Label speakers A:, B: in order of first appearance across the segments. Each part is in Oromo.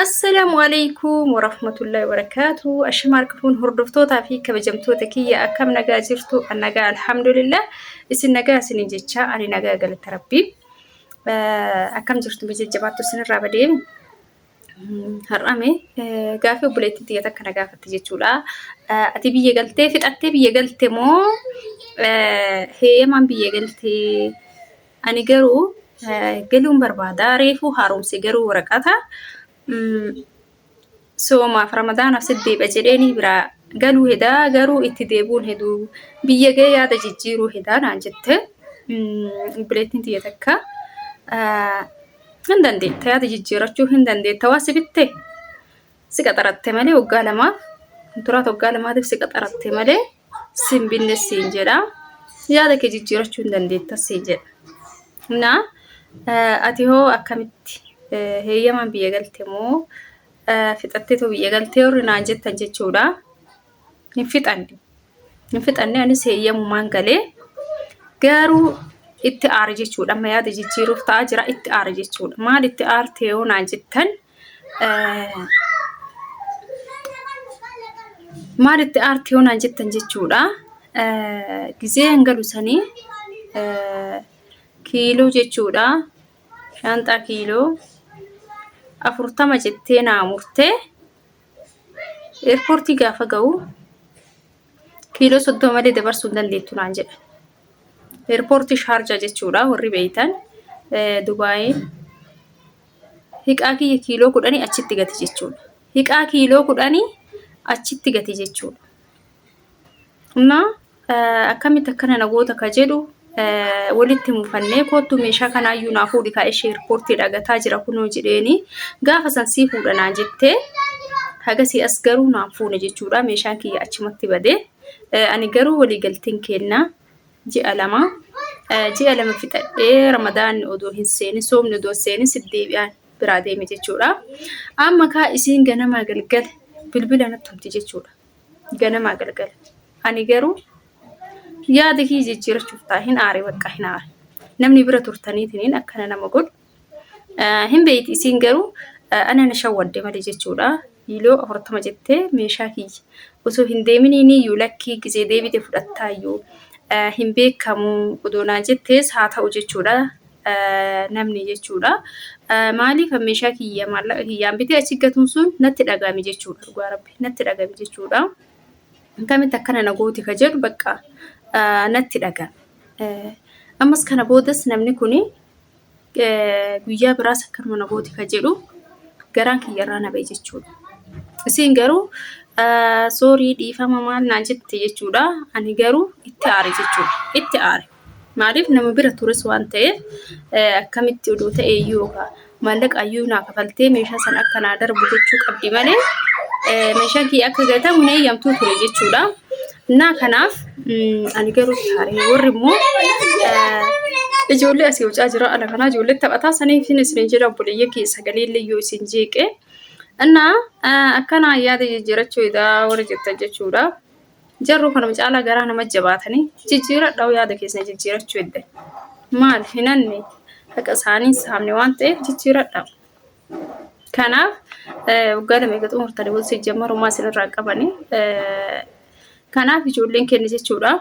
A: Assalaamu alaikum warahmatullahi wabarakaatu. Ashamaa harka fuun hordoftootaa fi kabajamtoota kiyya akkam nagaa jirtu? An nagaa alhamdulillah. Isin nagaa isiniin jecha ani nagaa galata rabbii. Akkam jirtu jajjabaattu isinirraa badee har'ame gaafii obboleettii tiyya takka na gaafatte jechuudha. Ati biyya galtee fixattee biyya galte moo heeyamaan biyya galtee? Ani garuu galuun barbaada. Reefuu haaromse garuu waraqata soomaaf ramadaanaaf siddeeba jedheenii biraa galuu hedaa garuu itti deebuun heduu biyya ga'ee yaada jijjiiruu hedaa naan jette obboleettiin tiyya takka hin dandeetta yaada jijjiirachuu hin dandeetta waa si bitte si qaxaratte malee waggaa lamaaf turaa waggaa lamaatiif si qaxaratte malee sin binne siin jedha yaada kee jijjiirachuu hin dandeetta siin jedha na ati hoo akkamitti heeyyamaan biyya galte moo fixatteetoo biyya galtee warri naan jettan jechuudha hin fixanne hin fixanne anis heeyyamumaan galee garuu itti aara jechuudha amma yaada jijjiiruuf ta'a jira itti aara jechuudha maal itti aartee yoo naan jettan maal itti aartii hoonaan jettan jechuudha. Gizee hin galu sanii kiiloo jechuudha. Shaanxaa kiiloo afurtama jettee naa murtee eerpoortii gaafa ga'u kiiloo soddoma malee dabarsuu hin dandeettu naan jedha. Eerpoortii Shaarjaa jechuudha warri beeytan Dubaayiin. Hiqaa kiyya kiiloo kudhanii achitti gati jechuudha. Hiqaa kiiloo kudhanii achitti gati jechuudha. Amma akkamitti akkana nagoota ka jedhu walitti mufannee koottu meeshaa kanaayyuu naa fuudhi kaa ishee irpoortii dhagataa jira kunoo jedheeni gaafa san sii fuudha naa jettee hagasii as garuu naan fuune jechuudha meeshaan kiyya achumatti badee ani garuu waliigalteen keenna ji'a lama ji'a lama fixadhee ramadaanni odoo hin seenin soomni odoo hin seenin si deebi'aan biraa deeme jechuudha. Amma kaa isiin ganamaa galgala bilbila natti himti jechuudha. Ganamaa galgala. Ani garuu yaada kiyya jijjiirachuuf ta'a hin aare bakka hin aare. Namni bira turtaniitiin akkana nama godhu Hin beeyti isiin garuu ana na shawwadde malee jechuudha. Yiiloo afurtama jettee meeshaa kiyya osoo hin deeminiiniyyuu lakkii gizee deebite fudhattaayyuu hin beekamu odoonaa jettees haa ta'u jechuudha namni jechuudha. Maaliif meeshaa kiyya maallaqa kiyyaan bitee achi gatuun sun natti dhaga'ame jechuudha dhugaa rabbi natti dhaga'ame jechuudha. Akkamitti akkana na gooti ka jedhu bakka natti dhaga'ame. Ammas kana boodas namni kuni guyyaa biraas akkanuma na gooti ka jedhu garaan kiyyarraa na ba'e jechuudha. Isiin garuu soorii dhiifama maal naan jette jechuudha. Ani garuu itti aare jechuudha. Itti aare. Maaliif nama bira tures waan ta'eef akkamitti odoo ta'e iyyuu yookaan maallaqa iyyuu naa kafaltee meeshaa sana akka naa darbu gochuu qabdi malee meeshaan kiyya akka gatamu na eeyyamtuu ture jechuudha. Innaa kanaaf ani garuu taaree warri immoo ijoollee asii hojaa jira ala kanaa ijoollee taphataa saniif hin isin jedha obboleeyya kee sagalee illee yoo isin jeeqee innaa akkanaa yaada jijjiirachuu edaa warri jettan jechuudha. Jarruu kanuma caalaa garaa nama jabaatanii jijjiiradhaa yaada keessan jijjiirachuu edda maal hinanne haqa isaanii saamne waan ta'eef jijjiiradhaa. Kanaaf waggaa lama eega xumurtanii wal sijjammarumaa isinirraa qabani. Kanaaf ijoolleen keenya jechuudha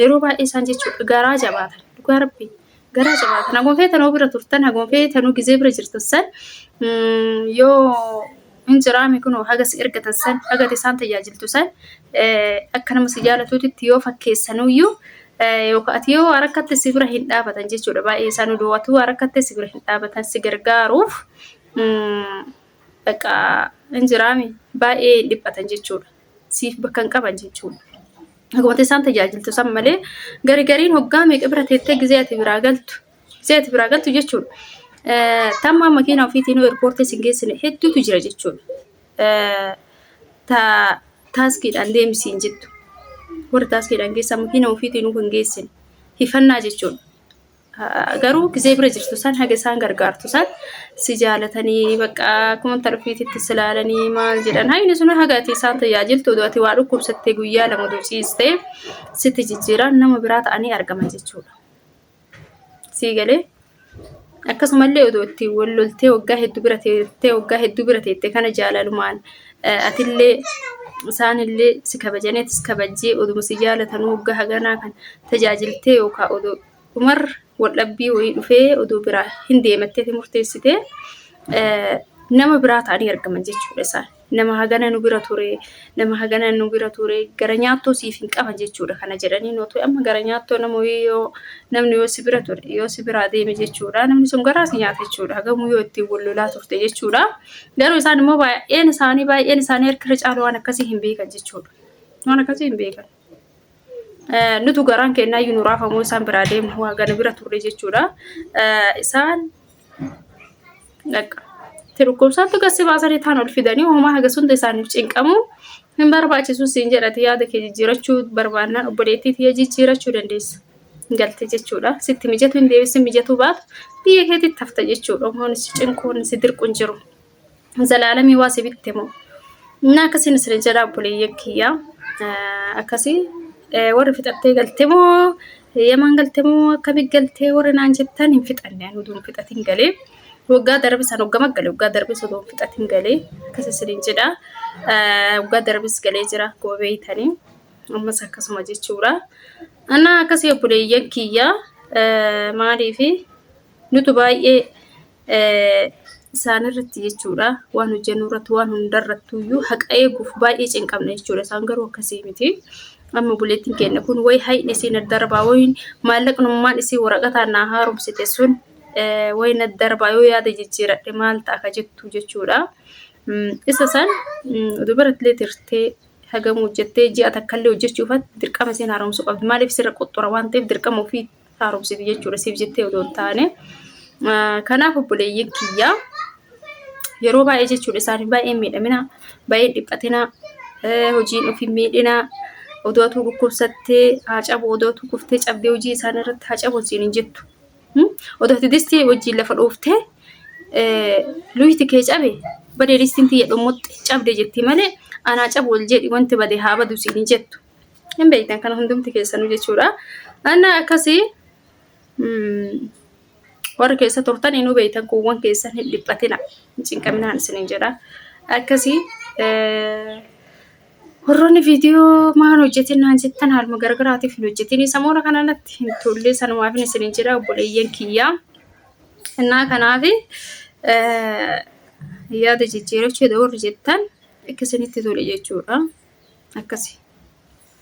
A: yeroo baay'ee isaan jechuudha garaa jabaatan dhugaa rabbi garaa jabaatan haguma feetanuu bira turtan haguma feetanuu gizee bira jirtan san yoo hin jiraami kunoo haga si ergatan san haga ati isaan tajaajiltu san akka nama si jaalatuutitti yoo fakkeessanuyyuu yookaan ati yoo harkatti si bira hin dhaabatan jechuudha baay'ee isaan oduu ati harkatti si bira hin dhaabatan si gargaaruuf bakka hin jiraami baay'ee hin dhiphatan jechuudha siif bakka hin qaban jechuudha. Akkuma isaan tajaajiltu san malee garigariin hoggaa meeqa bira teettee gizee ati biraa galtu seeti biraa galtu jechuudha. Tamma makiina ofiitiin eerpoortii isin geessine hedduutu jira jechuudha. Taaskiidhaan deemisiin jettu. Warri taaskiidhaan geessan makiina ofiitiin kan geessine hifannaa jechuudha. Garuu gisee bira jirtu san haga isaan gargaartu san si jaalatanii bakka akkuma intala ofiititti si ilaalanii maal jedhan hayni sun haga ati isaan tajaajiltu oduu ati waa dhukkubsattee guyyaa lama dociistee sitti jijjiiraan nama biraa ta'anii argaman jechuudha. Sii galee? Akkasumallee otoo itti wal loltee waggaa hedduu bira teessee waggaa hedduu bira teessee kana jaalalumaan atillee isaanillee si kabajanii atis kabajjee oduma si jaalatanuu waggaa haganaa kan tajaajiltee yookaan odoo dhumarra wal dhabbii wayii dhufee odoo biraa hin deemattee murteessitee nama biraa ta'anii argaman jechuudha isaan. nama hagana nu bira ture nama hagana nu bira ture gara nyaattoo siif hin qaba jechuudha kana jedhanii nuti amma gara nyaattoo nama yoo namni yoo si bira ture yoo si biraa deeme jechuudha namni sun garaa si nyaata jechuudha hagamuu yoo ittiin wal lolaa turte jechuudha garuu isaan immoo baay'een isaanii baay'een isaanii harkirra caalu waan akkasii hin beekan jechuudha waan akkasii hin beekan. nutu garaan kennaa iyyuu nu raafamoo isaan biraa deemu hagana bira turre jechuudha. Isaan tirukkumsaatti gassi baasanii taan ol fidanii homaa haga sunda isaaniif cinqamu hin barbaachisu siin jedhati yaada kee jijjiirachuu barbaannaan obboleettii tiyya jijjiirachuu dandeessa. galte jechuudha. Sitti mijatu hin deebisin mijatu baatu biyya keetitti hafta jechuudha. Uummanni si cinquun si dirquun jiru. zalaalamii waa si bitte moo na akkasiin isin jedha obboleeyyan kiyya akkasii warri fixattee galte moo yaman galte moo akkamii galtee warri naan jettan hin fixanne anu duun fixatiin galee waggaa darbe san hoggama gale waggaa darbe sun duun fixatiin galee akkas isin jedha waggaa darbes galee jira akkuma beeytanii ammas akkasuma jechuudha ana akkasii obboleeyyan kiyya maaliifi nutu baay'ee isaanirratti jechuudha waan hojjennu irratti waan hundarrattuyyuu haqa eeguuf baay'ee cinqamna jechuudha isaan garuu akkasii miti. Amma buleettiin keenya kun wayi hayni isiin addarbaa wayiin maallaqnummaan isii waraqataan naa haaromsite sun wayiin addarbaa yoo yaada jijjiiradhe maal ta'a ka jettu jechuudha. Isa san dubartillee tirtee hagam hojjettee ji'a takkallee hojjechuufatti dirqama isiin haaromsuu qabdi. Maaliif sirra qoxxora waan ta'eef dirqama ofii haaromsiti jechuudha siif jettee odoo hin taane. Kanaaf obboleeyyiin kiyyaa yeroo baay'ee jechuudha isaanii baay'ee miidhamina baay'ee dhiphatina hojiin ofii miidhina odoo atuu dhukkubsattee haa cabu odoo atuu kuftee cabdee hojii isaanii irratti haa cabu siin hin jettu. Odoo ati distii wajjin lafa dhooftee luyti kee cabe badee distiin tiyya dhummuxxe cabde jetti malee anaa cabu ol jedhi wanti bade haa badu siin hin jettu. hin beektan kana hundumti keessanuu jechuudha anna akkasii warri keessa turtan inuu beektan kuuwwan keessan hin dhiphatina hin cinqaminaan isinin jedha akkasii warroonni viidiyoo maan hojjetin naan jettan haaluma garagaraatiif hin hojjetin samoora kanarratti hin tollee sanumaafin isinin jedha obboleeyyan kiyyaa Innaa kanaaf yaada jijjiirachuu warri jettan akka isinitti tole jechuudha. Akkasi.